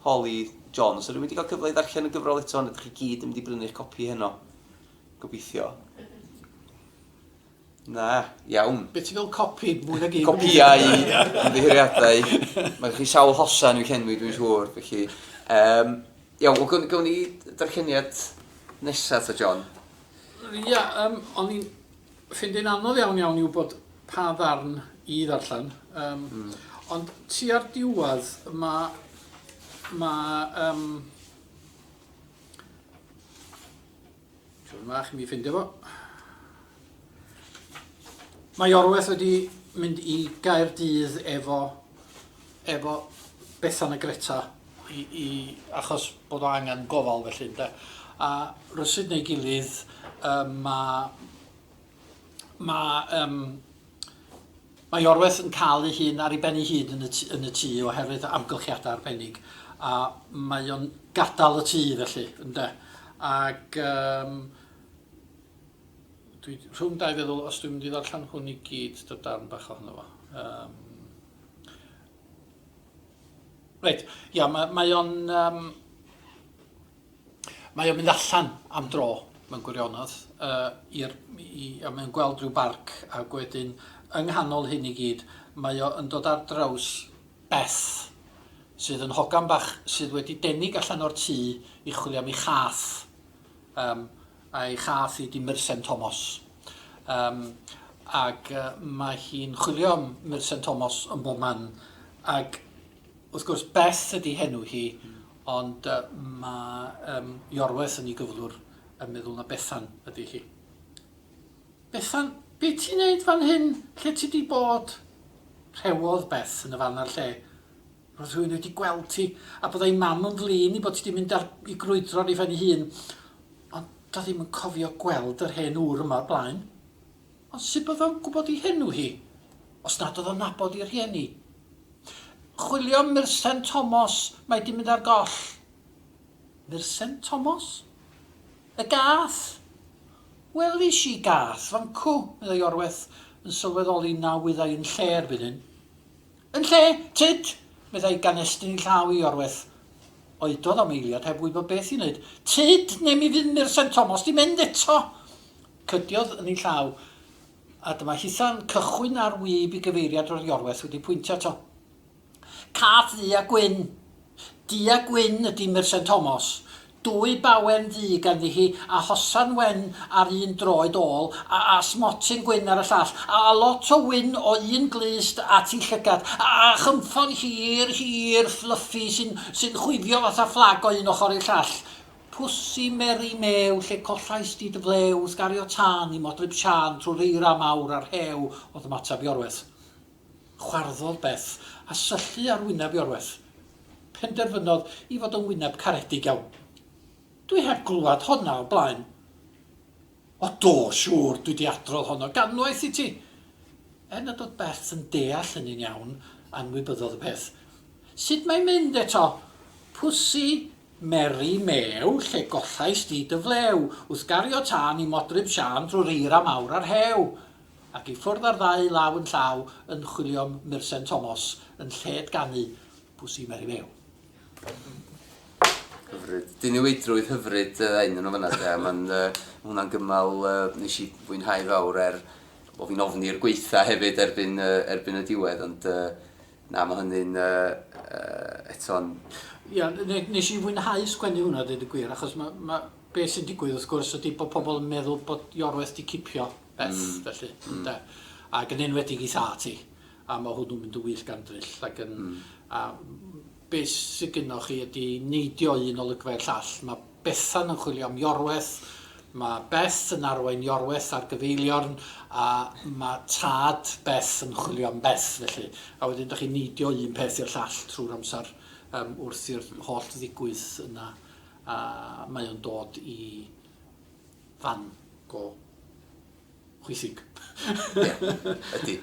holi John, fysa rhywun wedi cael cyfle i ddarllen y gyfrol eto, neu ydych chi gyd yn mynd i brynu'ch copi heno? Gobeithio. Na, iawn. Be ti'n fel copi? Mwy nag un. Copïau ymddiheuriadau. Mae gen chi sawl hosan i'w llenwi dwi'n siŵr, felly. Um, iawn, wel gawn, gawn ni darlleniad nesaf ta, John? Ia, um, o'n i'n ffindio'n anodd iawn iawn i wybod pa ddarn i ddarllen. Um, mm. Ond ti ar diwedd mae... Mae... Um, Tro yma chi'n mynd i ffindio fo. Mae Iorwerth wedi mynd i Gaerdydd efo efo Bethan a Greta i i achos bod o angen gofal felly ynde? A rywsut neu gilydd yym ma' Mae yym mae Iorwerth yn cael ei hun ar ei ben ei hun yn y t- yn y tŷ oherwydd amgylchiadau arbennig a mae o'n gadael y tŷ felly ynde ac yym dwi rhwng dau feddwl os dwi'n mynd i ddarllen hwn i gyd dy darn bach ohono fo yym reit ia ma' mae o'n yym Mae o'n mynd allan am dro mewn gwirionedd yy i'r i a mae o'n gweld rhyw barc ag wedyn yng nghanol hyn i gyd mae o yn dod ar draws Beth sydd yn hogan bach sydd wedi denig allan o'r tŷ i chwilio am ei chath yym a'i chath hi 'di Mursen Tomos yym ag yy mae hi'n chwilio am Mursen Tomos yn bob man ag wrth gwrs Beth ydi henw hi Ond mae yym Iorwerth yn ei gyflwr yn meddwl na Bethan ydy hi. Bethan, be ti'n neud fan hyn? Lle ti di bod? Rhewodd Beth yn y fan a'r lle. Roedd rhywun wedi gweld ti, a byddai Mam yn flin i bod ti di mynd ar i grwydro ar ei phen ei hun. Ond do ddim yn cofio gweld yr hen ŵr yma o'r blaen. Ond sut oedd o'n gwybod ei henw hi, os nad oedd o'n nabod ei rhieni? Chwilio am Mursen Tomos, mae 'di mynd ar goll. Mursen Tomos? Y gath? Welis i gath, fancw, meddai Orweth, yn sylweddoli na wyddai yn lle erbyn hyn. Yn lle, tyd! meddai gan estyn ei llaw i Orweth. Oedodd am eiliad heb wybod beth i wneud. Tyd, neu mi fydd Mursen Tomos 'di mynd eto! Cydiodd yn ei llaw. A dyma hitha'n cychwyn ar wib i gyfeiriad roedd Iorwerth wedi pwyntio ato. Cath ddu a gwyn! Du a gwyn ydi Mursen Tomos. Dwy bawen ddu ganddi hi, a hosan wen ar un droed ôl, a a smotyn gwyn ar y llall, a a lot o wyn o un glust at ei llygad, a a chynffon hir, hir, fluffy, sy'n, sy'n chwifio fatha fflag o un ochr i'r llall. Pussy Mary Mew lle collais di dy flew Wrth gario tân i modryb Siân Trwy'r eira mawr a'r rhew O'dd ymateb Iorwerth Chwarddodd Beth a syllu ar wyneb Iorwerth Penderfynodd i fod yn wyneb caredig iawn Dwi heb glwad honna o blaen O do, siŵr, dwi di adrodd hon o ganwaith i ti Er nad oedd Beth yn deall hynny'n iawn, anwybyddodd y peth Sut mae'n mynd eto? Pussy Mary meu, lle goffais di dy flew, Wrth gario tân i modryb Siân Drwy'r eira mawr a'r rhew? Ac i ffwrdd â'r ddau law yn llaw Yn chwilio'm mursen Tomos Yn lled ganu Pws i Mary meu. Hyfryd. Diniweidrwydd hyfryd yy un yn fana de, ma'n yy ma' hwnna'n gymal yy nes i fwynhau fawr er bo' fi'n ofni'r gweitha hefyd erbyn yy erbyn y diwedd ond yy Na, mae hynny'n eto'n... Ia, nes i fwynhau sgwennu hwnna a deud y gwir, achos be sy'n digwydd wrth gwrs ydi bod pobl yn meddwl bod Iorwerth 'di cipio Beth, felly, ynde? Ac yn enwedig ei thad hi, a mae hwnnw'n mynd yn wyllt gan dryll, ac yn... A be sy gynnoch chi ydi neidio un olygfa i'r llall, mae Bethan yn chwilio am Iorwerth, mae Beth yn arwain Iorwerth ar gyfeiliorn a mae tad Beth yn chwilio am Beth felly. A wedyn dych chi'n neidio un peth i'r llall trwy'r amser um, wrth i'r holl ddigwydd yna a mae o'n dod i fan go. Chwithig. Ie, ydy.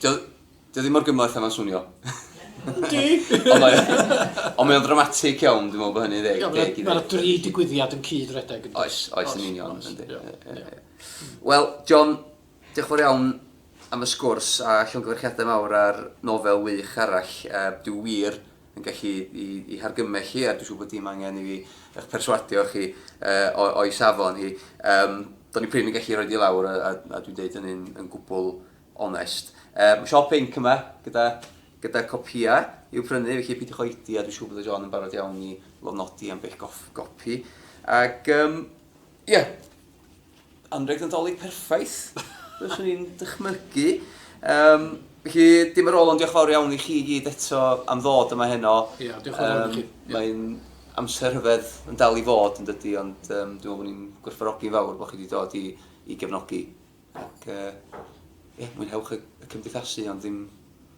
Dio, dio ddim mor gymhleth a mae'n swnio. Ydy! Ond mae, ond mae o'n dramatic iawn, dwi'n meddwl bod hynny'n ddeg. Ie, mae'r dri digwyddiad yn cyd redeg. Oes, oes, yn union. Wel, John, diolch yn fawr iawn am y sgwrs a llongyfarchiadau mawr ar nofel wych arall. Dwi wir yn gallu i, i hargymell hi, a dwi'n siŵr bod dim angen i fi eich perswadio chi uh, o'i safon hi. Um, do'n i prin yn gallu rhoi di lawr, a, a, a dwi'n deud hynny'n yn gwbl onest. Um, mae siop inc yma gyda, gyda copia i'w prynu, felly peidiwch oedi a dwi'n siŵr bod y John yn barod iawn i lofnodi am bell gopi. Ac um, Ie. Yeah. Anrheg Nadolig perffaith, fyswn i'n dychmygu. Um, felly, dim ar ôl ond diolch fawr iawn i chi i gyd eto am ddod yma heno. Ie, yeah, diolch yn fawr um, i chi. Yeah. Mae'n amser rhyfedd yn dal i fod yn dydy, ond um, dwi'n meddwl bod ni'n gwerthfarogi'n fawr bod chi wedi dod i, i gefnogi. Ac, uh, ie, yeah, mwynhewch y, y cymdeithasu, ond ddim